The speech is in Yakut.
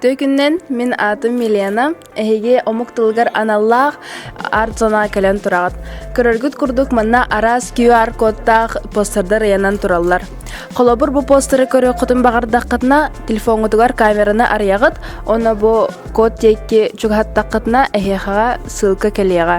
Түөкүннэн мин аатым Милена, эһиги омук тылыгар аналлаах арт зона кэлэн тураҕыт. Көрөргүт курдук манна араас QR-кодтаах постердар ыйанан тураллар. Холобур бу постеры көрүөххүтүн баҕардаххытына, телефоҥҥутугар камераны арыйаҕыт, онно бу код тиэкки чугаһаттаххытына эһиэхэҕэ ссылка кэлиэҕэ.